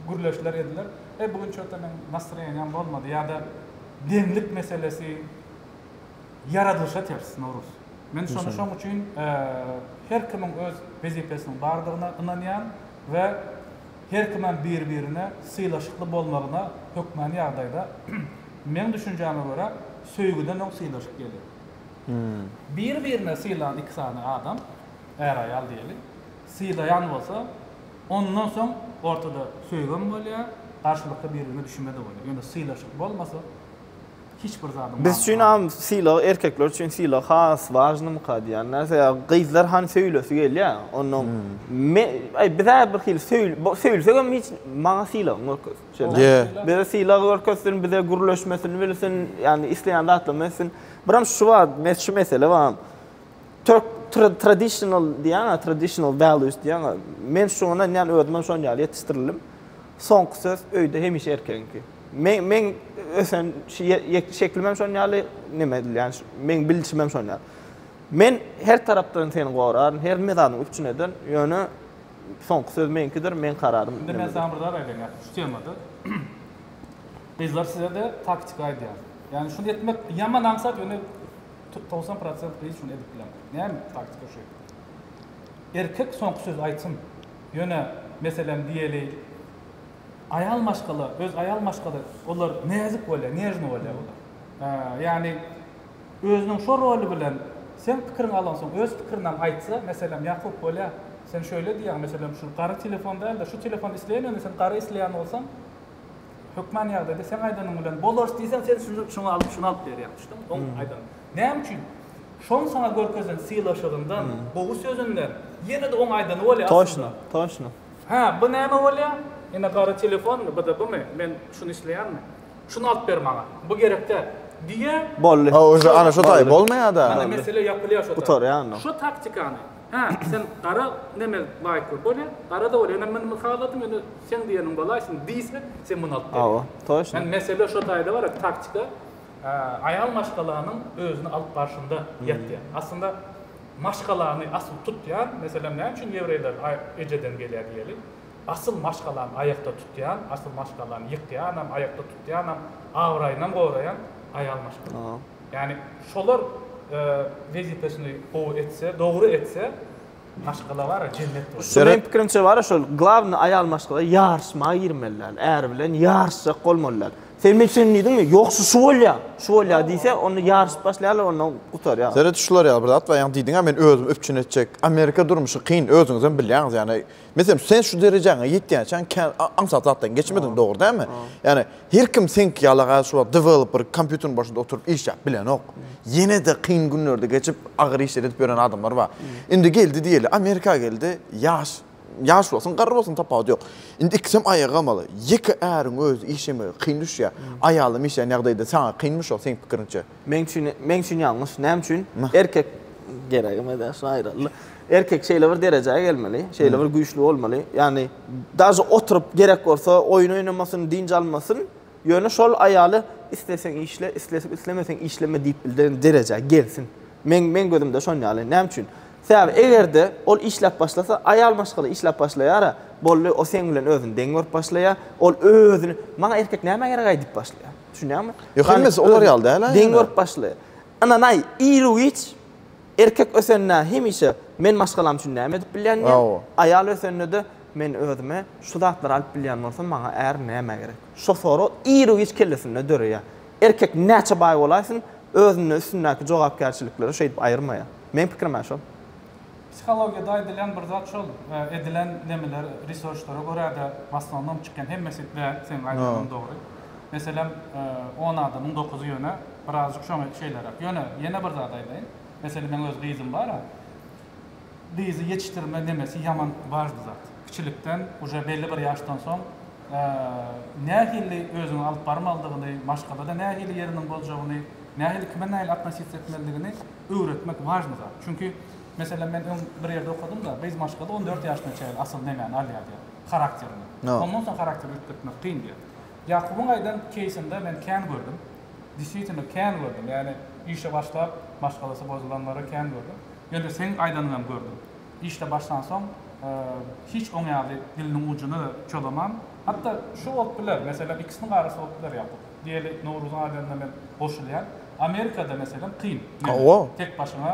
gürleşler ediler. Eý, bu gün çöte meň nastroýeniýam bolmady ýa-da deňlik meselesi ýaradylyşa ters, Nowruz. Men şony şoň üçin her kimiň öz wezipesiniň bardygyna ynanýan we her kimem bir-birine sylaşykly bolmagyna hökmany ýagdaýda. Meň düşünjäme görä, söýgüden öň sylaşyk gelýär. Bir-birine sylan iki sany adam, är-aýal diýeli, sylaýan bolsa, ondan soň ortada söýgem bolýar, garşylykly bir-birine düşünme-de bolýar. Ýöne sylaşyk bolmasa, hiç bir zadyň manysy Biz üçin am sylag, erkekler üçin sylag has wažnymyka diýýän närse. Ýa gyzlar han söýülesi gelýär, ondan me-, aý, biz-ä birhili söýül-, söýülsegem hiç, maňa sylagyňy görkez. Şeýle. Ýe. Bize sylag görkezsin, bize gürleşmesini bilsin, ýagny isleýän zatlaryny etsin. Biram şu bar, mes şu mesele bar. Türk tra- traditional diýýän, traditional values diýýän. Men şuňa ynanýan, özüm hem şonuň ýaly ýetişdirildim. Soňky söz öýde hemişe erkegiňki. Men men ösen şu ýe- ýe- şeklim hem şonuň ýaly, neme edilýän, şu- meň bilşim hem şonuň ýaly. Men her tarapdan seni goraryn, her mezadyň üpjün ederin, ýöne Soňky söz meňkidir, meň kararym Indi men saňa bir zat aýdaýyn ýaşuly şu temada. Gyzlar sizede taktika aýdýan. Ýagny şuny etmek ýaman aňsat ýöne togsan prosent gyz şuny edip bilen. Näme taktika şu. Erkek soňky sözi aýtsyn. Ýöne meselem diýeli aýal maşgala öz aýal maşgala olar näzik bolýar, nežny bolýar olar. Ýagny Özüniň şo roly bilen seň pikiriň alansoň öz pikirinam aýtsa meselem Ýakup bolýa sen şöýle diýýäň meselem şu gara telefon dälde şu telefon isleýän ýöne sen gara isleýän bolsaň hökman ýagdaýda seň aýdanyň bilen bolarys diýseň sen şuny şuňa alyp şuny alyp berýäň düşdüňmi oň aýdan näme üçin şoň saňa görkezen sylaşygyndan gowy sözünden ýenede oň aýdany bolýa aslynda Toşno toşno. Hä bu näme bolýa ine gara telefonmy bda bymy men şuny isleýänmi. Şuny alyp ber maňa. Bu gerek däl. Diýýär. Boldy. Hawa, şo, ana şo taý, bolmaýar-da. Mana mesele ýapylýar şo taý. Gutarýar onda. Şo taktikany, hä, sen gara neme laýyk bol. Bolýa, gara-da bol. Ýöne men muny haladym, ýöne seň diýeniň bolaýsyn diýse, sen muny alyp ber. Hawa, toçna. Ýöne mesele şo taýda bar, taktika aýal maşgalanyň özüni alyp barşynda ýatýar. Aslynda maşgalany asyl tutýan, meselem, näme üçin ýewreýler ejeden gelýär diýeli? Asyl maşgalany aýakda tutýan, asyl maşgalany ýykýanam, aýakda tutýanam, abraýynam goraýan aýal maşgala. Ýagny şolar wezipesyny gowy etse, dogry etse, maşgala bar-a jennet bolar. Şu meň pikirimçe bar-a şol glawny aýal maşgala ýaryşma girmeli däl, äri bilen ýaryşjak bolmaly däl. Sen men şony diýdiňmi, ýok şu şu bolýa, şu bolýa diýse, onda ýaryşyp başlaýarlar onda gutarýar. Seret şular ýaly bir zat bar, ýagny diýdiňä men özümi üpjün etjek. Amerika durmuşy kyn, özüňizem bilýäňiz ýagny Meselem, sen şu derejäňe ýetýänçäň kän aňsat zatdan geçmediň, dogry dälmi? Ýani, her kim seňki ýaly gal şu wagt developer kompýuteriň başynda oturyp işläp bilenok. Ýene-de kyn günlerde geçip, agyr işler edip ýören adamlar bar. Indi geldi diýeli, Amerika geldi, ýaş, ýaş bolsun, garry bolsun tapawudy ýok. Indi ikisem aýaga gamaly. Ýeke äriň özi işlemegi kyn düşýär. Aýalam işlän ýagdaýda saňa kynmy şo seň pikiriňçe? Meň üçin, meň üçin ýalňyş. Näme üçin? Erkek geregem edä şu aýraly. Erkek şeýle bir derejä gelmeli, şeýle bir güýçli bolmaly. Ýagny daže oturyp gerek bolsa oýun oýnamasyn, dynç almasyn, ýöne şol aýaly isleseň işle, islesip islemeseň işleme diýip bildiren derejä gelsin. Meň meň gözümde şon ýaly. Näme üçin? Sebäbi eger-de ol işläp başlasa, aýal maşgala işläp başlaýar-a, boldy, o seň bilen özüni deň görüp başlaýar, ol özüni, Maňa erkek nämä gerek-aý diýip başlaýar. Düşünýäňmi? Ýok, hemmesi olar ýaly däl-ä. Deň görüp başly. Ynanaý, iru-giç erkek ösende hemişe men maşgalam üçin näme edip bilýän diýen, aýal ösende-de men özüme şu zatlary alyp bilýän bolsam, maňa är nämä gerek? Şo sorag iru-giç kellesinde döreýär. Erkek näçe baý bolaýsyn, özünden üstündäki jogapkärçilikleri şeýdip aýyrmaýar. Meň pikirim-ä şol. Psihologiýada aýdylýan bir zat şol, edilen nemeler researchlara görä-de w asnownom çykýan hemmesi däl, seň aýdanlaň dogry. Meselem, on adamyň dokuzy ýöne birazjyk şoňa şeýleräk. Ýöne ýene bir zat aýdaýyn. Meselem, meň öz gyzym bar-a, gyzy ýetişdirme nemesi ýaman wažny zat. Kiçilikden, uje belli bir ýaşdan soň nähili özüňi alyp barmalydygyny, maşgalada nähili ýeriniň boljagyny, nähili kime nähili atnositsiýa etmelidigini, öwretmek wažny zat. Çünki, meselem, men öň bir ýerde okadym-da, gyz maşgala on dört ýaşyna çenli asyl nemäni alýar diýýär? Harakterini. Ondan soň harakteri üýtgetmek kyn diýýär. Ýakubyň aýdan keýsinde men kän gördüm. Diswitino kän gördüm. Ýagny işe başlap, maşgalasy bozulanlary kän gördüm. Ýöne seň aýdanyňy hem gördüm. Işde başlansoň, hiç oň ýaly diliniň ujuny-da çolaman. Hatda şu bolup biler, meselem, ikisiniň arasy bolup biler, Ýakup. Diýeli Nowruzyň adynda men goşulýan. Amerikada meselem kyn mende. Tek başyňa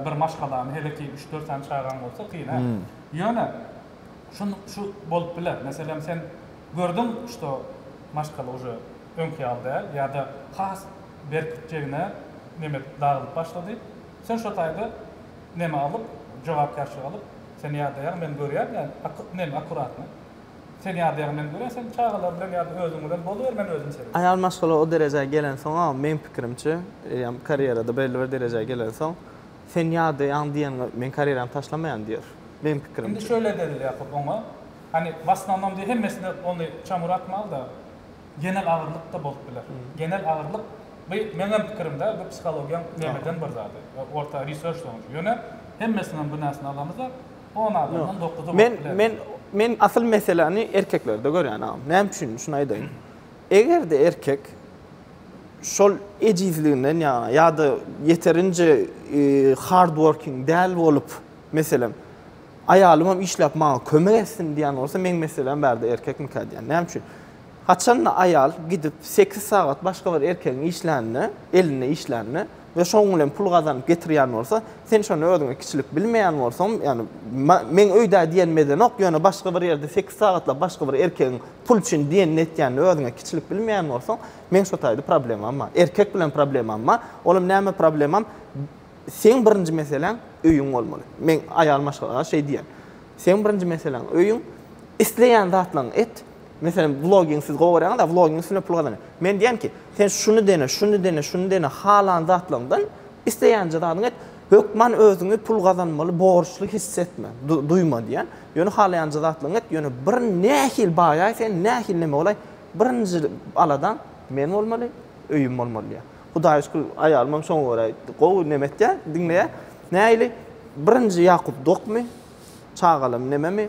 bir maşgalany hele ki üç-dört sany çagaň bolsa kyn hä. Ýöne şu şu bolup biler. Meselem sen gördüň şto maşgala uje öňki ýaly däl ýada has berk jegine neme edip dagylyp başlady. Sen şo taýda neme alyp jogapkärçilik alyp sen ýadaýaň men görýän ýa neme akkuratny Sen ýadyaňy men gören sen çagalar bilen ýada özüň bilen boluber men özüm seni. Aýal maşgala o derejä gelensoňam meň pikirimçe ýam karýerada belli bir derejä gelensoň sen ýadyaň diýeniňe men karýeramy taşlamaýan diýer meň Indi pikirimçe. şöyle edeli Ýakup oňa hani w asnamnom diýe hemmesine ony çamura atmalda genel agyrlyk da bolup biler genel agyrlyk by meňem pikirim da bu psihologiýaň nemeden bir zady orta research soňunçy ýöne hemmesiniňem günäsini alamyza On adamdan dokuzy bolup Men biler. men men asyl meseläni erkeklerde görýän agam. Näme üçin? Şuny aýdaýyn. Eger-de erkek şol ejizliginden ýaňa ýa-da ýeterinje e, hard working däl bolup, meselem, aýalymam işläp maňa kömek etsin diýen bolsa, meň meselem bärde erkekmikä diýen. Näme üçin? Haçanda aýal gidip sekiz sagat başga bir erkegiň işlänine, elinde işlänine, we şoň bilen pul gazanyp getirýän bolsa, sen şony özüňe kiçilik bilmeýän bolsaňm, ýagny meň öýdä diýen mezenok, ýöne başga bir ýerde sekiz sagatlap başga bir erkegiň pul üçin diýenini etýänini özüňe kiçilik bilmeýän bolsaň, meň şo taýda problemam bar. Erkek bilen problemam bar. Olam näme problemam, seň birinji meseläň öýüň bolmaly. Meň aýal maşgalama şeý diýen. Seň birinji meseläň öýüň, isleýän zatlaryňy et, Meselem, vloging siz gowy görýäňiz-a, vloging üstünde pul gazanýar. Men diýýän ki, sen şuny dene, şuny dene, şuny dene, halan zatlaňdan isleýänje zadyňy et. Hökman özüňi pul gazanmaly borçly hiss etme, duýma diýýän. Ýöne halaýanjy zatlaňy et, ýöne bir nähili baýaý sen, nähili neme bolaý, birinji aladaň men bolmaly, öýüm bolmaly diýýär. Hudaýa şükür, aýalymam şoňa görä gowy neme etýär, diňleýär. Nähili? Birinji Ýakup dokmy? Çagalam nememi?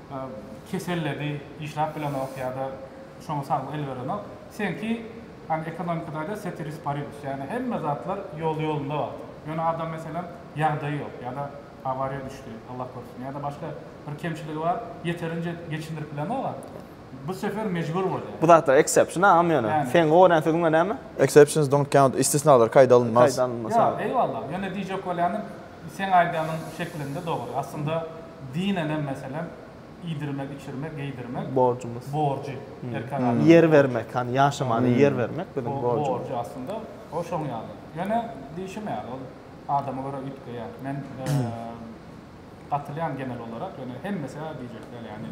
keselledi işlap bilenok ýada şoňa saglyk el berenok seňki hani ekonomikada aýdar setiris paribus ýagny hemme zatlar ýoly ýolunda bar ýöne adam meselem ýagdaýy ýok ýada awariýa düşdi Allah gorsun ýada başga bir kemçiligi bar ýeterinje geçindirip bilenoga bu sefer mejbur bolýa. Bu zatlar exception agam ýöne seň gorýän söziň we näme? Exceptions don't count istisnalar kaýda alynmaz. Kaýda alynmaz. Ýa eýwallah ýöne diýjek bolýanym. Seň aýdanyň şeklinde dogry. Aslynda dinenem meselem iýdirmek, içirmek, geýdirmek. Borjumyz. Borjy. Erkek adamyň. Ýer bermek, hani ýaşamaly ýer bermek biziň borjumyz. Borjy aslynda o şoň ýaly. Ýöne diýşim ýaly ol adama görä üýtgeýär. Men gatylýan genel olarak ýöne hemmesi-ä diýjek däl ýani.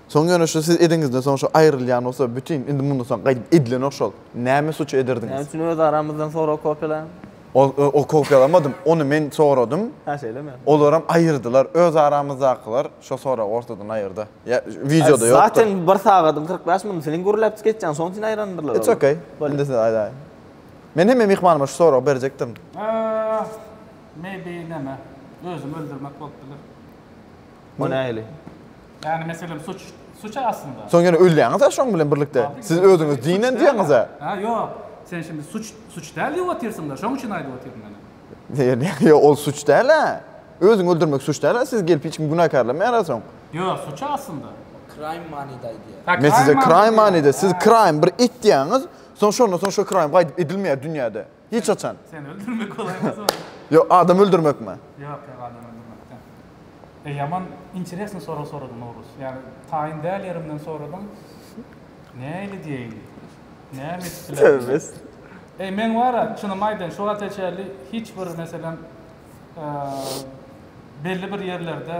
Soň ýöne şu siz ediňizde soň şu aýrylýan bolsa bütin indi mundan soň gaýdyp edilenok şol. Näme suç ederdiňiz? Näme üçin öz aramyzdan sorag kopýalaň? Ol ol kopýalamadym. Ony men soradym. Hä şeýlemi? Olaram aýyrdylar. Öz aramyzdakylar şo soragy ortadan aýyrda. Ýa wideoda ýokdur. Zaten bir sagadyň kyrk bäş minut seniň gürläpjik etýäň şoň üçin aýrandyrlar It's okay. Bolýa. Indi siz aýdaýyň. Men hemme myhmanyma şu soragy berjekdim. Ahh. Maybe näme. Özümi öldürmek bolup biler. O nähili? Yani meselem suç, suç aslında. Soň ýene ölýäňiz-ä şoň bilen birlikde. Siz özüňiz dinen diýýäňiz-ä. Ha, ýok. Sen şimdi suç, suç däl diýip otyrsyň-da, şoň üçin aýdyp otyryn men. Ýerine, ýok, ol suç däl-ä. Özüňi öldürmek suç däl-ä, siz gelip hiç kimi günäkärlemeýär-ä soň. Ýok, suç aslında. Crime manyda aýdýar. Ha, Men size crime manyda, siz crime, bir et diýýäňiz, soň şondan soň şo crime gaýdyp edilmeýär dünýäde. Hiç haçan. Seni öldürmek golaýmaz ol. Ýo, adam öldürmekmi? Ýok, ýok, adam öldürmek däl. E, ýaman interesny sorag soradyň, Nowruz. Ýagny, taýyn däl ýerimden soradyň. Nähili diýeýin? Näme edip bilerin diýip. Eý, meň bar-a, çynymy aýdaýyn, şu wagta çenli hiç bir, meselem, e, belli bir ýerlerde,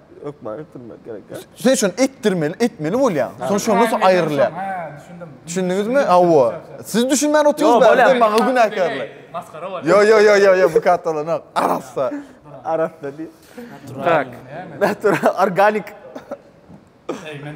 Ökman etdirmek gerek ya. Sen şunu etdirmeli, etmeli bolýar. Sonra şondan soň aýrylýar. Düşündiňizmi? Awa. Siz düşünmän otyňyz bäri, maňa günäkärlik. Maskara bolýar. Yo yo yo yo yo bu katalanok. Arassa. Arassa diý. Tak. Natural organik. Eý men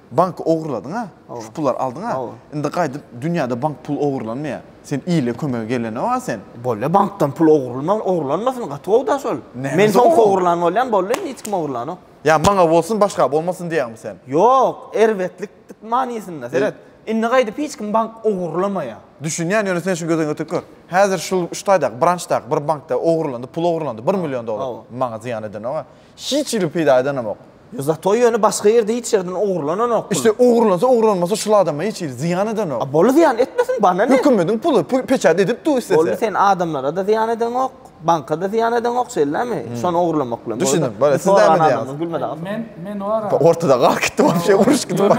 Banky ogurladyňa, şu pullary aldyňa. Indi gaýdyp dünýäde bank pul ogurlanmaýa. Sen ile kömege gelene wa sen. Bolýa bankdan pul ogurlman ogurlanmasyn gaty gowda şol. Men soň ogurlan bolýan boldy indi hiç kim ogurlanok. Ýa maňa bolsun başga bolmasyn diýäňmi sen. Ýok erbetlik manysynda seret. Indi gaýdyp hiç kim bank ogurlamaýa. Düşünýän ýöne sen şu gözüň ötüp gör. Häzir şul şu taýdaky brançdaky bir bankda ogurlandy pul ogurlandy bir million dollar. Maňa zyýan edenok-a. Hiç ýyl peýda edenemok. Ýo zato ýöne başga ýerde hiç ýerden ogurlananok pul. İşte ogurlansa ogurlanmasa şul adama hiç ýyl zyýan edenok. A boldy zyýan etmesin bana ne. Hökümediň puly pul peçat edip dur istese. Boldy sen adamlarada zyýan edeňok, bankada zyýan edeňok şeldämi? Şony ogurlamak bilen. Düşündim boldy siz näme diýýäňiz. Gülme dagy. Men men o ara. Ortada galyp gitdim wapşe uruşyp gitdim.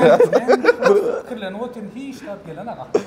Pikirlenip otyryn hiç zat gelene gatnamaz.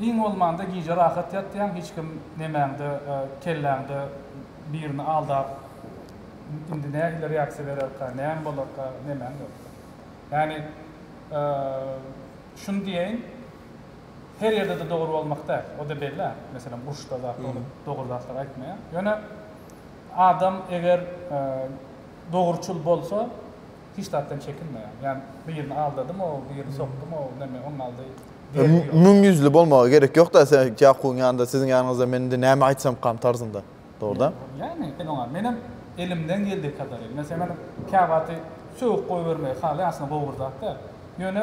Iň bolmanda gije rahat ýatýaň, hiç kim nemäňde, kelläňde birini aldap, indi nähili reaksiýa bererka, näme bolarka, nemäň ýokdur. Ýagny, şuny diýeýin, her ýerde-de dogry bolmak däl, o-da belli-ä. Meselem, uruşda zat bolup, dogry zatlary aýtmaýar. Ýöne adam eger dogruçyl bolsa, hiç zatdan çekinmeýär. Ýani birini aldadym-ow, birini sokdum-ow, näme, onuň aldy derdi ýok. Müň ýüzli bolmaga gerek ýok-da, sen Ýakubyň ýanynda, siziň ýanyňyzda men indi näme aýtsamkam tarzynda. Dogrudan. Ýani, sen oňa, menem elimden geldiği kadaryn. Men seňem käwagty sögüp goýbermegi halaýan, aslynda gowy bir zat däl. Ýöne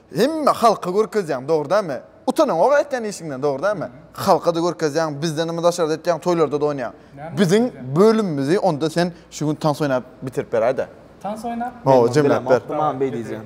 Hemme halka görkezýäň dogry dämi? Utanaňok aýtýan işiňden dogry dämi? Halkada görkezýäň bizdenmi daşarda etýäň toýlarda-da oýnaýaň. Biziň bölümimizi onda sen şu gün tans oýnap bitirip beräýdä. Tans oýnap? Hawa jemläp ber. Dawaý gezeýin.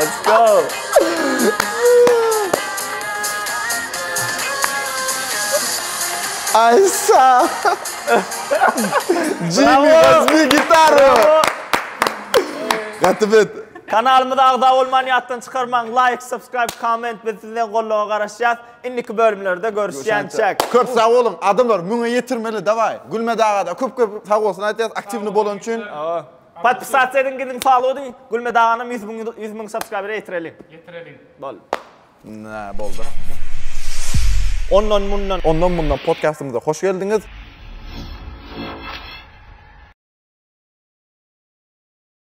Let's go. Aysa. Genius bir gitarı. Gaty bet. Kanalymyza agza bolman ýatdan çykarmaň. Like, subscribe, comment biz sizden golluga garaşýas. Indiki bölümlerde görüşýänçäk. Köp sag boluň adamlar müňe ýetirmeli daway. Gülmet agada köp köp sag bolsun aýtýas aktiwny bolan üçin. Podpisasiýa ediň gidiň follow ediň Gülmet aganam ýüz müň ýüz müň subscribera ýetireliň. Ýetireliň. Boldy. Nä boldy. Ondan mundan. Ondan mundan podkastymyza hoş geldiňiz.